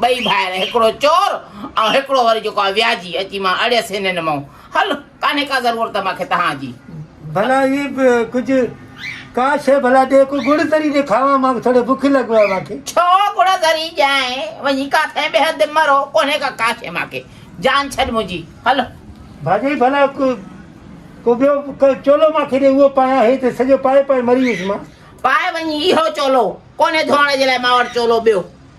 ٻئي ڀائر، هڪڙو چور ۽ هڪڙو وري جيڪو آهي وياجي، اچي مان اڙيس هنن مئو. هل، ڪانهي ڪا ضرورت مانکي تهان جي. ڀلا هي به ڪجهه ڪا شيء ڀلا ڏي، ڪو گڙ ذري ڏي کاوان، مان ٿوري بک لڳو آهي مانکي. ڇو گڙ ذري ڏيانء، وڃي ڪاٿئين ٻيهر دم مرو، ڪونهي ڪا ڪا شيء مانکي، جان ڇڏ منهنجي، هل. ڀاڄائي ڀلا ڪو ڪو ٻيو ڪو چولو مانکي ڏي، اهو پايان، هي ته سڄو پائي پائي مري ويس مان. پاء وڃي اهو چولو، ڪونهي ڌوئڻ جي لاء مان وٽ چولو ٻيو،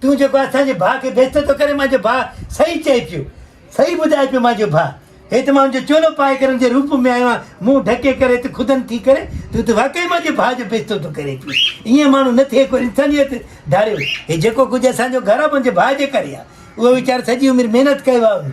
تون جيڪو اسان جي ڀاء کي بيزتو ٿو ڪرين منهنجو ڀاء صحيح چئي پيو صحيح ٻڌائي پيو منهنجو ڀاء هيت مان جو چولو پائي ڪرڻ جي روپ ۾ آيو آهيان منهن ڍڪي ڪري هيت خدن ٿي ڪري تون ته واقعي منهنجي ڀاء جو بيزتو ٿو ڪرين پيو ائين ماڻهو نه ٿئي ڪو انسانيت ڌاريو هي جيڪو ڪجهه اسان جو گهر منهنجي ڀاء جي ڪري آهي اهو ويچارو سڄي عمر محنت ڪيو آهي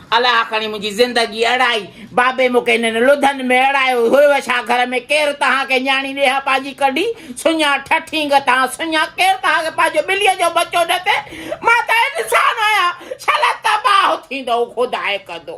الاء کڻي منهنجي زندگي اڙائي، بابي مون کي هنن لڌن ۾ اڙايو هيو ڇا گهر ۾ ڪير تهان کي نياڻي ڏي ها پنهنجي ڪڍي سڃا ٺٺينگ تهان سڃا ڪير تهان کي پنهنجو ٻليء جو ٻچو ڏتي مان ته انسان آهيان ڇلا تباهه ٿيندو خدا هڪ ادو